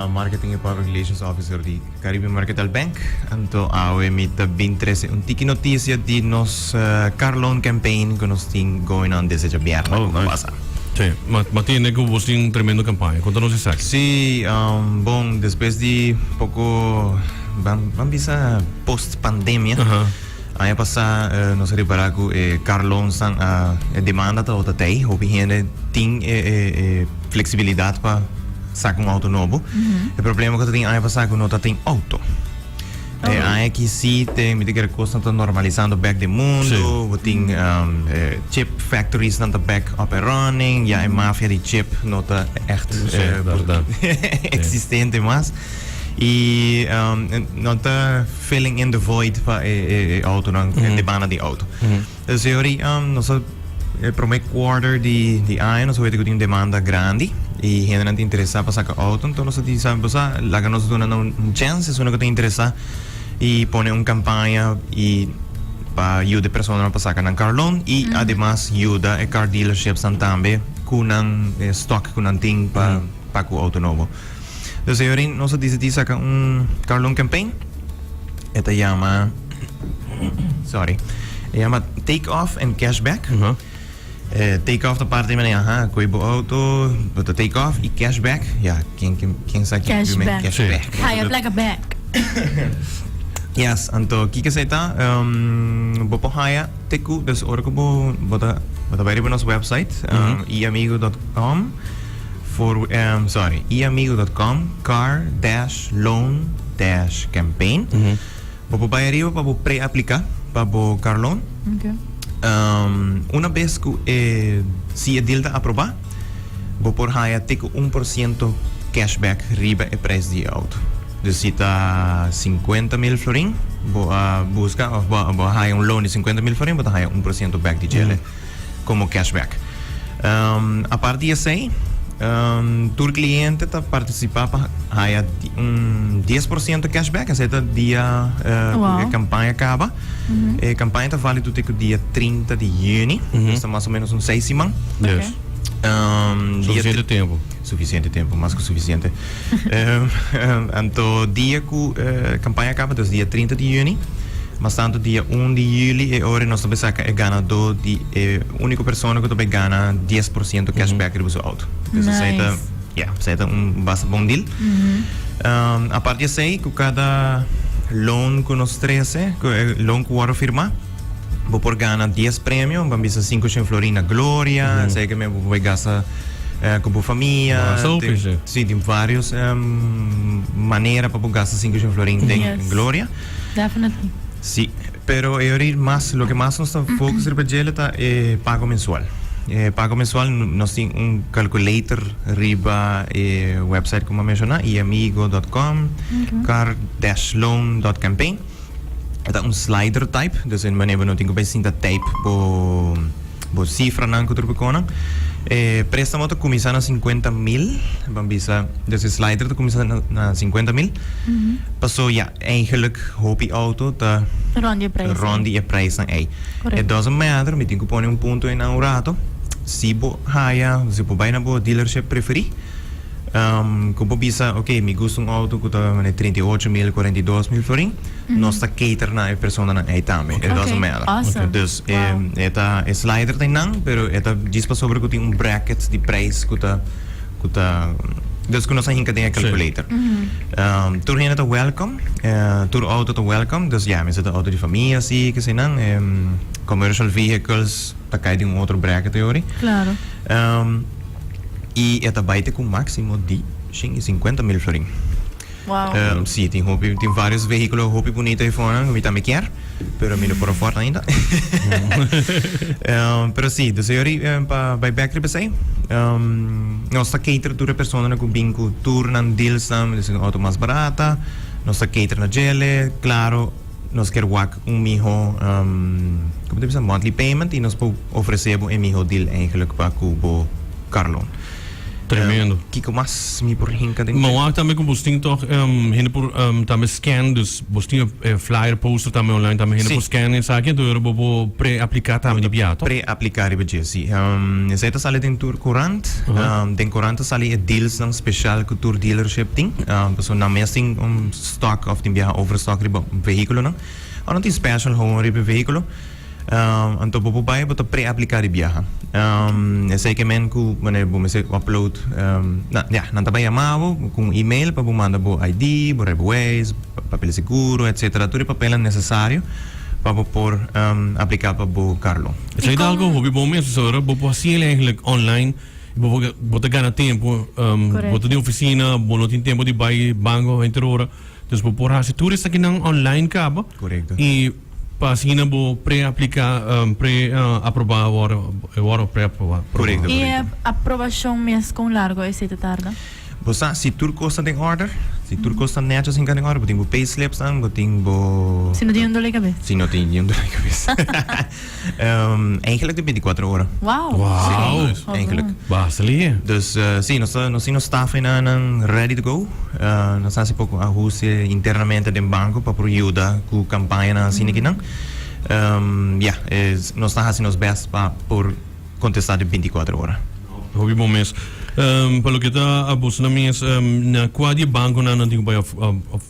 A Marketing y Public Relations Officer di Caribe Mercantile Bank. Anto awe mi ta bin trece un tiki noticia di nos Car Loan Campaign cu nos tin going on desde djabièrnè cu ta pasa. Si, m'a tende cu bos tin un tremendo campaña. Conta nos esaki. Si, bon, despues di poco, bam bisa post pandemia. Aña pasá nos a repará ku e karlonsnan a e demanda ta ota tei. Hopi hende tin e e fleksibilidat pa saka un outo nobo. E problema ku ta tin aña pasá ku no ta tin outo. E aña aki si te mira kere kosnan ta normalisando bèk den mundu. Bo tin e chip factorisnan ta bèk up and running. Ya e mafia di chip no ta ègt eksistente mas. I no ta. Filling in the void pa e autonan, e debanda di auto. E sey ori, nos ta, e prome quarter di aña nos ta wete ku tin un demanda grandi i hendenan ta interesá pa saka auto. Enton nos ta di, sabi bo sa, laga nos duna nan un chèns esuna ku ta interesá i pone un kampaña i pa yuda e personanan pa saka nan kar loan i ademas yuda e kar dealerships tambe ku nan stòk ku nan tin pa paga ku auto nobo. Entonces, señorin, nos decidí saca un Carlon campaign. Esta llama. Sorry. Llama Take Off and Cashback. Uh -huh. Eh, take off da parte men aha, koi bo auto, but the take off i cashback. Ja, ken ken ken sa ken bi men cashback. Ga je plek back. Yes, anto kike sa ta um, bo po haya teku, dus ora ko bo bo ta bo ta bari bo nos website um, iamigo.com. For ehm sorry e amigo dot com car dash loan dash campaign bo por bai ariba pa bo pre aplica pa bo car loan ehm una bes cu e si e deal ta aproba bo por haya te cu un por ciento cash back riba e prijs di e auto dus si ta cincuenta mil florin bo a busca of bo a haya un loan di cincuenta mil florin bo ta haya un por ciento back di djele. komo cashback. Apart di esei, tur kliente ta partisipá pa haya un dies por siento cashback, esei ta dia ku e kampaña kaba. E kampaña ta válido te ku dia trinta di yüni, ta mas o ménos un seis siman. Dia. Suficiente tempu. Sufisiente tempu, mas ku sufisiente. Anto dia ku kampaña kaba ta dia trinta di yüni, mas tantu dia un di yüli e ora nos ta bai saka e ganadó di e úniko persona ku ta bai gana dies por siento cashback riba su outo. Pues esei ta, ya, esei ta un basta bon deal. Apart di esei, ku kada loan ku nos trese, loan ku wòrdu firmá. Bo por gana dies premio, bo a bisa sinku shin florin na Gloria, en serio mi bo puede gasta eh, ku bo famia. Mas hopi, Tin- sí. Sí, tin varios em, manera pa bo gasta sinku shin florin den Yes. Gloria. Definitely. Sí, pero e ori mas, lo que mas nos ta focus riba djele ta e pago mensual. E pago mensual, no- nos tin un calculator riba e website como a menciona, iamigo.com, car-loan.campaign. E ta un slider type, dus en manera bo no tin ku bai sinta type bo bo sifranan ku otro konan. E préstamo ta kuminsá na 50 mil, ban bisa dus e slider ta kuminsá na, na 50 mil. Pasó ya, eigenlijk hopi auto ta Rond di e prijs ei. rond di e prijsnan ei. Correcto. E doesn't matter, mi tin ku pone un punto einan un rato, si bo haya, si bo bai na bo dealership preferí, Ku bo bisa, ok, mi gusta un outo ku ta mane treinta i ocho mil, kuarenta i dos mil florin, nos ta cater na e personanan ei tambe. E doesn't matter. Dus, e ta, e slider ta einan, pero e ta djis pasobra ku tin un bracket di preis ku ta, ku ta, dus ku nos a hinka den e calculator. Tur hende ta welcome, tur outo ta welcome, dus ya, mester ta outo di famia asi, kese einan. E commercial vehicles ta kai den un otro bracket ei ori. i e ta bai te ku un máksimo di shin i sinkuenta mil florin. Wow. Uh, sí, tem, hopi, tem vários veículos hopi bonito aí fora, que eu também quero, pero me por fora ainda. um, pero sí, do senhor um, para vai back riba sei, um, nós tá cater toda pessoa na cubin com tour na deals na, auto mais barata, nós tá cater na gele, claro, nos kier wak un miho como ta bisa monthly payment y nos por ofrece bo e miho deal eigenlijk pa cu bo car loan. Tremendo. Um, kiko mas mi por hinka den? Mawak e? tambe ku bos tin toch um, hende por um, tambe scan dus bos tin eh, flyer poster tambe online tambe hende sí. por scan esaki en toer bo pre aplica tambe di pia toch? Pre aplica riba je sí. Um, esai ta sale den tur courant. Uh -huh. um, den courant ta sale e deals dan special ku tur dealership tin. Um, paso na mes tin um, stock of tin biaha over stock riba vehiculonan. Ora tin special hoon riba e vehiculo, anto bo por bai bo ta pre-aplica di biaha. Esey ke men cu wanneer bo mester upload, ya, nan ta bai yama bo cu un email pa bo manda bo ID, bo rijbewijs, papel di seguro, etcetera, tur e papelnan necesario pa bo por aplica pa bo carlon. Esey ta algo hopi bon mes, pasobra bo por haciel eigenlijk online. Bo ta gana tempu. Bo ta den ofisina, bo no tin tempu di bai banco henter ora. Dus bo por haci tur esakinan online caba. I pa asina bo preaplica, preaproba awor, awor preaproba. I e aprobacion mes con largo esei ta tarda? Bo sa si tur cos ta den order. Si tur cos ta necho sin ca den order. Bo tin bo payslips nan, bo tin bo. Si no tin un dole cabes. Si no tin un dole cabes. Eigenlijk de beinticuatro ora. Wow. Wow. Si, eigenlijk. Basta lihe. Dus si nos ta, nos tin nos staff ena nan ready to go. Nos ta hasi poco ahuste internamente den banco pa por yuda cu campañanan asina kinan. Ya, nos ta hasi nos best pa por. Contesta den binti cuatro ora. Hopi bon mes. Pa loke ta abos nan mes na cua di e banco nan nan tin cu bay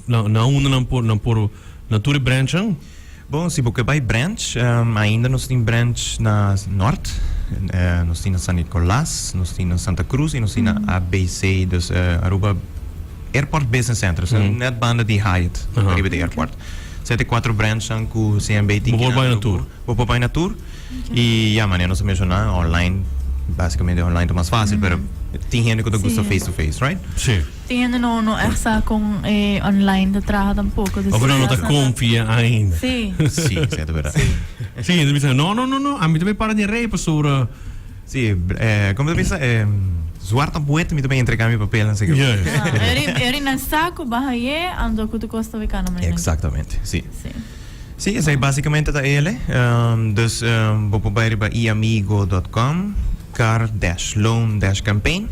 na unda nan por nan por na tur e branch nan? Bon si bo ke bay branch ainda nos tin branch na Nort nos tin na San Nicolas nos tin na Santa Cruz y nos tin na ABC dus Aruba Airport Business Center net banda di Hyatt riba di airport sete cuatro branch nan cu CMB tin kina bo por bay na tur. Y ya manera nos a menciona online básicamente online ta mas fácil pero tin hende cu ta gusta face to face right? Sí. Tin hende no no echt sa con e online ta traha tampoco. Of nan no ta confia ainda. Sí. Sí, sí ta verdad. Sí, hende bisa no no no a mi tambe para den rey pasobra Sí, eh, como ta bisa eh zwart a boet mi ta bay entrega mi papel nan seker. Yes. Eri eri nan sa cu baha ye ando cu ta costa wekana mai nan. Exactamente, sí. Sí. Sí, esei básicamente ta el, eh. Ehm, dus ehm, bo por bai riba iamigo.com, car dash loan dash campaign.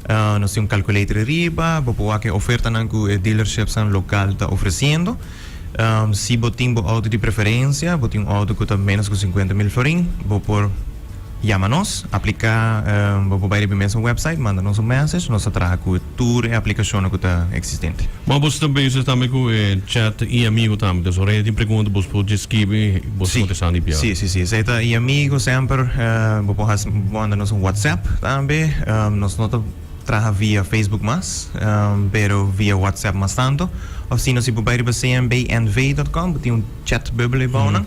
Ah, nos tin un calculator riba, bo por wak e ofertanan cu e dealerships-nan local ta ofreciendo. Ehm, si bo tin bo auto di preferencia, bo tin un auto cu ta ménos cu cincuenta mil florin, bo por yama nos, aplica, ehm, bo por bai riba e mesun website, manda nos un message, nos ta traha cu. tur e aplicacionnan cu ta existente. Ma bos ta bezig tambe cu e chat i amigo tambe, ta ora e tin pregunta bos por dje skibi i bos ta Si, contestando di piadi. si, si, si, esey ta i amigo semper, bo por haci, bo por manda nos un WhatsApp tambe, nos no ta traha via Facebook mas, pero via WhatsApp mas tanto, of sino si bo bai riba cnbnv dot com bo tin un chat bubble aybounan.